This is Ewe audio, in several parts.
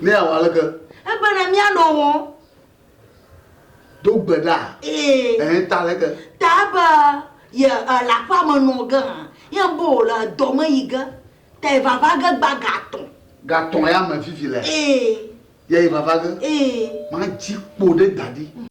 Ne awɔ aleke? Ebena míanɔ wɔ. Do gbe ɖa. Ee. Ɛɛ, ta aleke? Ta ebe ye e le aƒea me nɔ ge hã, ye ebe wòle edɔ me yi ge, ta yi vava ge gba ga atɔ̃. Ga atɔ̃ ya me fifi lea? Ee. Ye yi vava ge? Ee. Madzi kpo ɖe da ɖi.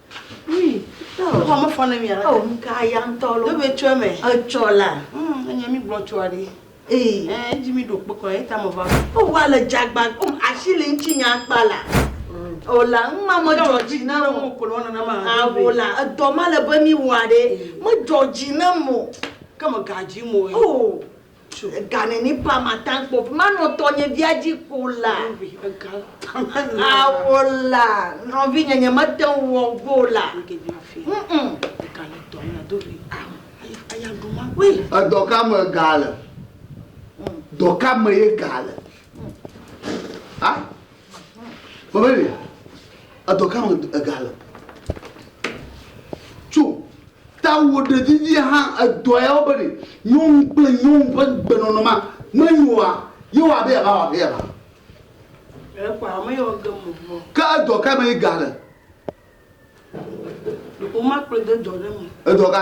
Ŋkɔ me fɔ ne mi ala. Awo ŋka ya ŋtɔ lo. Ɖe be tsɔ eme. Etsɔ la. Hmm, enye mi gblɔ tsɔ aɖe. Ee. Eh, edzi mi ɖo kpekɔ ye ta me va. O wa le jagba ko asi le ŋtsi nya kpa la. O la ŋma me dzɔ dzi na o. Mo ko lo na na ma. Awo la edɔ ma le be mi wa ɖe. Me dzɔ dzi na mo. Ke me gadzi mo. Oh. Tso ega neni pa matan kpɔ vi manɔ tɔnye via dzi ko la awo la nɔvi nye nye mete ŋu wɔ go la edɔ ka me ga le dɔ ka me ye ga le ah Mabeli, edɔ ka me ega le? Tso ta wò ɖe vivi hã edɔ ya wo beli nyɔnu kple nyɔnu ƒe gbenɔnɔ ma menyo wa ye wɔ abe yava wɔ abe yava. Ekɔ ame yɔ ge mo mo. Ke edɔ ka me ega le? Woma kple de dɔ ɖe me. Edɔ ka?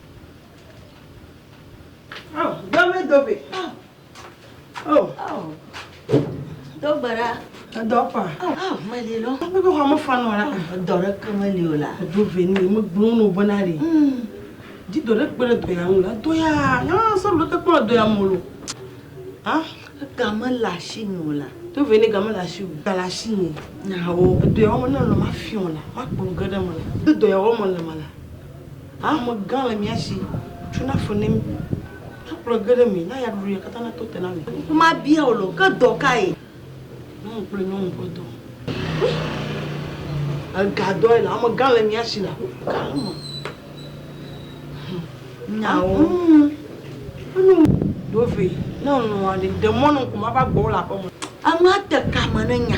Oh, dame dobe. Oh. Oh. Oh. Dogbara. Dɔpa. Ah, mali lɔ. Abe bɛ hɔn mɔfa nɔ la. Dɔ ɖe ke mali o la. Do ve ni mo gbɔn no bɔna de. Di dɔ ɖe kpe ɖe dɔ ya ŋu la. Dɔ ya, ya sɔ ɖe te kpe dɔ ya mo lo. Ah, game le asi mi o la. Do ve ni game le asi o. Ga le asi mi. Na wo. Dɔ ya wo ne lɔ ma fiɔ la. Ma kpɔ ge ɖe me la. Do dɔ ya wo mo le me la. Hamegã le mia si, tsuna fe ne mi, nakplɔe ge ɖe mi, na yaɖuɖuya katã nato te na mi. Ŋku mabia wò le o, ke dɔ kae? Nyɔnu kple nyɔnu ƒe dɔ. Ega dɔe le hamegã le mia si le aƒuƒu gã me. Nyawo. Enu ɖo vɛ ne lɔ̃a ɖe, de mɔ ne ŋku mava gbɔwò le aƒeme. Enu ate kame ne nya.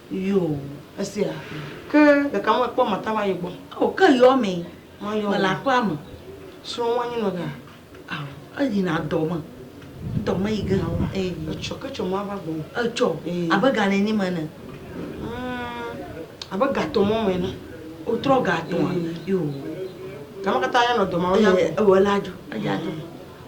Yoo, esia. Ke ɖeka me kpɔ Marta va yi gbɔ. Ao, ke yɔ me. Mayɔ. Mele aƒea me. Srɔ̃ wa nyi nɔ ga. Ao, eyi na dɔ me. Dɔ me yi ge. Ao, a. Ee. Etsɔ, ke tsɔ ma va gbɔ. Etsɔ. Ee. Abe ga nɛ ni me ne. Abe ga tɔ mɔ me ne. O trɔ ga tɔ. Yoo. Ga me kata ya nɔ dɔ ma o ya. Ee, ewɔ la djo. Eya dɔ.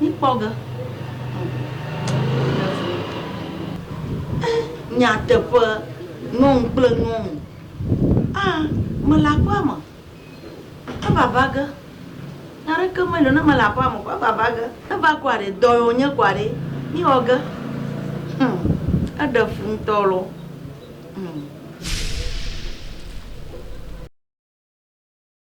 Mikpɔ ge. Ŋu. Nyateƒe, nyɔnu kple nyɔnu. A, mele aƒea me. Evava ge. Nya aɖeke meli o ne mele aƒea me kɔ, evava ge. Eva kɔa ɖe? Dɔ ye wònye kɔa ɖe? Mixɔ ge. Hm, eɖe fu ŋutɔ lɔ. Hm.